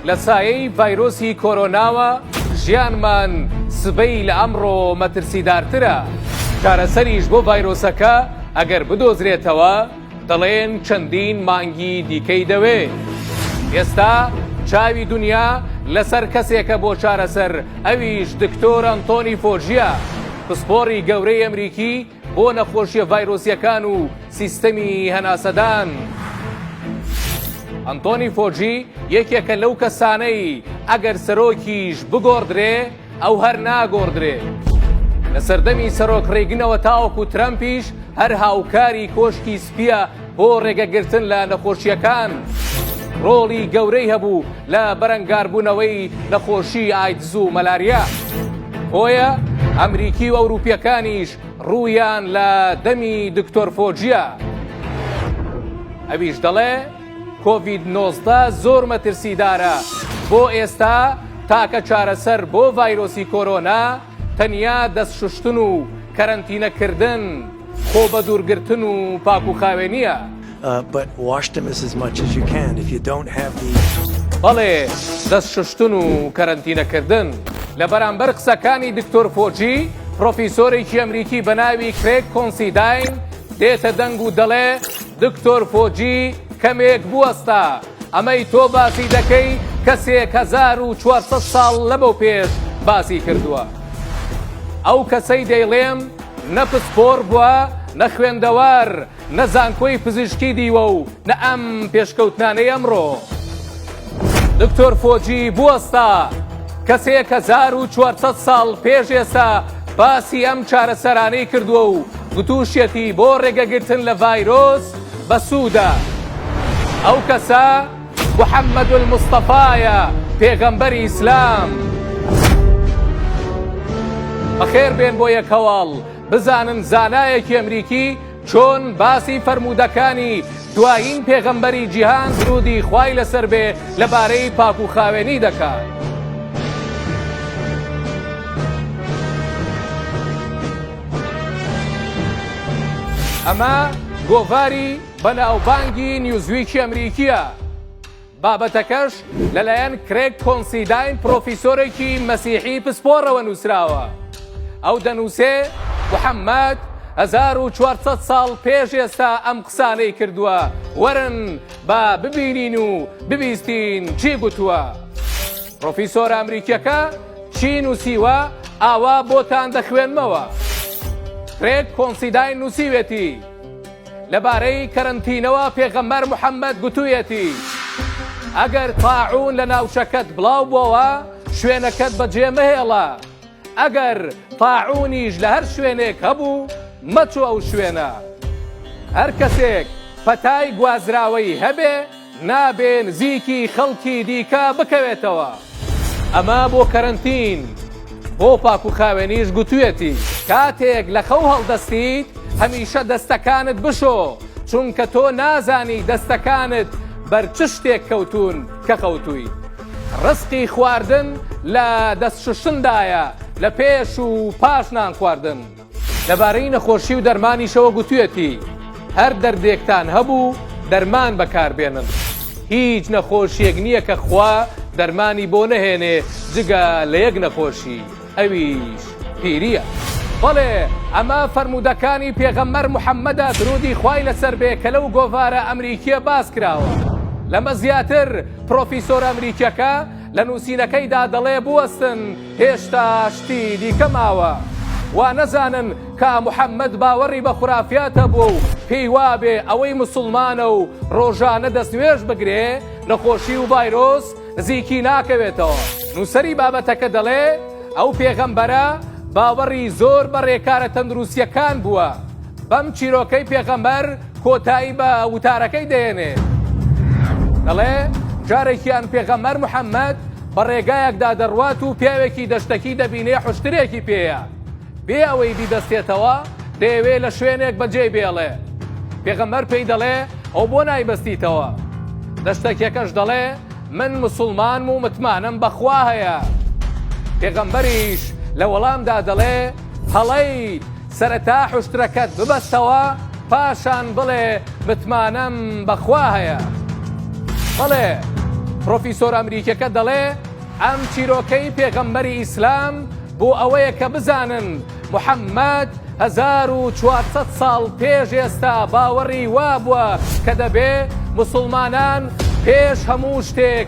لە سایەی ڤایرۆسی کۆرۆناوە ژیانمان سبەی لە ئەمڕۆ مەترسیدارترە چارەسەریش بۆ ڤایرۆسەکە ئەگەر بدۆزرێتەوە دەڵێن چەندین مانگی دیکەی دەوێ ئێستا چاوی دنیا لەسەر کەسێکە بۆ چارەسەر ئەویش دکتۆر ئەنتۆنی فۆجیە پسپۆڕی گەورەی ئەمریکی بۆ نەخۆشیە ڤایرۆسیەکان و سیستەمی هەناسەدان. ئەنتۆنی فۆجی یەکێکە لەو کەسانەی ئەگەر سەرۆکیش بگۆڕدرێ ئەو هەر ناگۆڕدرێ. لە سەردەمی سەرۆک ڕێگنەوە تاوەکو ترەمپیش هەر هاوکاری کۆشکی سپیە بۆ ڕێگەگرتن لە نەخۆشییەکان ڕۆڵی گەورەی هەبوو لە بەرەنگاربوونەوەی نەخۆشی ئایدز و مەلاریا بۆیە ئەمریکی و ئەوروپیەکانیش ڕوویان لە دەمی دکتۆر فۆجیە ئەویش دەڵێ کۆڤید 19 زۆر مەترسیدارە بۆ ئێستا تاکە چارەسەر بۆ ڤایرۆسی کۆرۆنا تەنیا دەست شوشتن و کەرەنتینە کردن خۆ بە دوور گرتن و پاکو خاوێنیە. بەڵێ دەست شوشتن و کەرەنتینە کردن. لە بەرامبەر قسەکانی دکتۆر فۆجی، پرۆفیسۆرێکی ئەمریکی بە ناوی کرێگ کۆنسیداین دێتە دەنگ و دەڵێ، دکتۆر فۆجی کەمێک بوەستە، ئەمەی تۆ باسی دەکەی کە سێک هەزار و چوار سەد ساڵ لەمەو پێش باسی کردووە ئەو کەسەی دەیڵێم نە پسپۆڕ بووە نە خوێندەوار نە زانکۆی پزیشکی دیوە و نە ئەم پێشکەوتنانەی ئەمڕۆ دکتۆر فۆجی بوەستا کەسێک هەزار و چوار سەد ساڵ پێش ئێستا باسی ئەم چارەسەرانەی کردووە و گوتوشیەتی بۆ ڕێگەگرتن لە ڤایرۆس بەسوودە. ئەو کەسە محمدالمصطفایە پێغەمبەری ئیسلام. بەخێر بێن بۆ یەک هەواڵ بزانن زانایەکی ئەمریکی چۆن باسی فەرموودەکانی دوایین پێغەمبەری جیهان سرودی خوای لەسەر بێ لەبارەی پاک و خاوێنی دەکات. ئەمە گۆڤاری بەناوبانگی نیوزویکی ئەمریکییە بابەتەکەش لەلایەن کرێک کۆنسیداین پرۆفیسۆرێکی مەسیحی پسپۆڕەوە نووسراوە ئەو دەنووسێ محەممەد 1400 ساڵ پێش ئێستا ئەم قسانەی کردووە وەرن با ببینین و ببیستین چی گوتووە. پرۆفیسۆرە ئەمریکیەکە چی نووسیوە ئاوا بۆتان دەخوێنمەوە کرێگ کۆنسیداین نووسیوێتی لەبارەی کەرەنتینەوە پێغەمبەر محەممەد گوتوویەتی ئەگەر تاعون لە ناوچەکەت بڵاو بۆوە شوێنەکەت بەجێ مەهێڵە ئەگەر تاعونیش لە هەر شوێنێک هەبوو مەچۆ ئەو شوێنە هەر کەسێک پەتای گوازراوەی هەبێ نابێ نزیکی خەڵکی دیکە بکەوێتەوە. ئەمە بۆ کەرەنتین بۆ پاکوخاوێنیش گوتویەتی. کاتێک لە خەو هەڵدەستیت هەمیشە دەستەکانت بشۆ چونکە تۆ نازانی دەستەکانت بەر چ شتێک کەوتوون کە خەوتویت ڕزقی خواردن لە دەست شوشتندایە لە پێش و پاش نان خواردن. لەبارەی نەخۆشی و دەرمانیشەوە گوتویەتی، هەر دەردێکتان هەبوو دەرمان بەکاربێنن، هیچ نەخۆشیەک نییە کە خوا دەرمانی بۆ نەهێنێ جگە لە یەک نەخۆشی ئەویش پیریە. بەڵێ ئەمە فەرموودەکانی پێغەمبەر محەمەدە درودی خوای لەسەر بێ کە لەو گۆڤارە ئەمریکیە باس کراوە. لەمە زیاتر پرۆفیسۆرە ئەمریکیەکە لە نووسینەکەیدا دەڵێ بوەستن، هێشتا شتی دیکە ماوە وا نەزانن کە محەممەد باوەڕی بە خورافیات هەبووە و پێی وابێ ئەوەی موسڵمانە و ڕۆژانە دەستنوێژ بگرێ، نەخۆشی و ڤایرۆس نزیکی ناکەوێتەوە. نووسەری بابەتەکە دەڵێ، ئەو پێغەمبەرە باوەڕی زۆر بە ڕێکارە تەندروستییەکان بووە. بەم چیرۆکەی پێغەمبەر کۆتایی بە وتارەکەی دەهێنێ. دەڵێ، جارێکیان پێغەمبەر محەممەد، بە ڕێگایەکدا دەڕوات و پیاوێکی دەشتەکی دەبینێ حوشترێکی پێیە بێ ئەوەی بیبەستێتەوە دەیەوێ لە شوێنێک بەجێی بێڵێ پێغەمبەر پێی دەڵێ ئەو بۆ نایبەستیتەوە دەشتەکیەکەش دەڵێ من مسلمانم و متمانەم بەخوا هەیە پێغەمبەریش لە وەڵامدا دەڵێ هەڵەیت سەرەتا حوشترەکەت ببەستەوە پاشان بڵێ متمانەم بەخوا هەیە بەڵێ پرۆفیسۆر ئەمریکیەکە دەڵێ ئەم چیرۆکەی پێغەمبەری ئیسلام بۆ ئەوەیە کە بزانن محەممەد 1400 ساڵ پێش ئێستا باوەڕی وابووە کە دەبێ مسلمانان پێش هەموو شتێک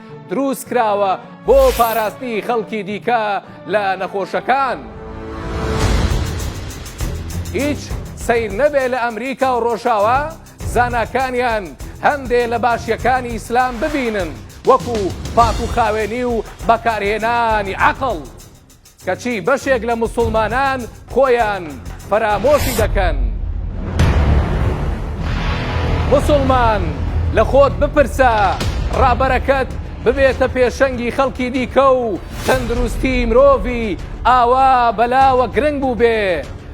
دروست کراوە بۆ پاراستنی خەڵکی دیکە لە نەخۆشەکان. هیچ سیر نەبێ لە ئەمریکا و ڕۆژاوا زاناکانیان هەندێ لە باشیەکانی ئیسلام ببینن وەکو پاک و خاوێنی و بەکارهێنانی عقل. کەچی بەشێک لە موسوڵمانان خۆیان فەرامۆشی دەکەن. موسوڵمان لە خۆت بپرسە ڕابەرەکەت ببێتە پێشەنگی خەڵکی دیکە و تەندروستی مرۆڤی ئاوا بەلاوە گرنگ بووبێ،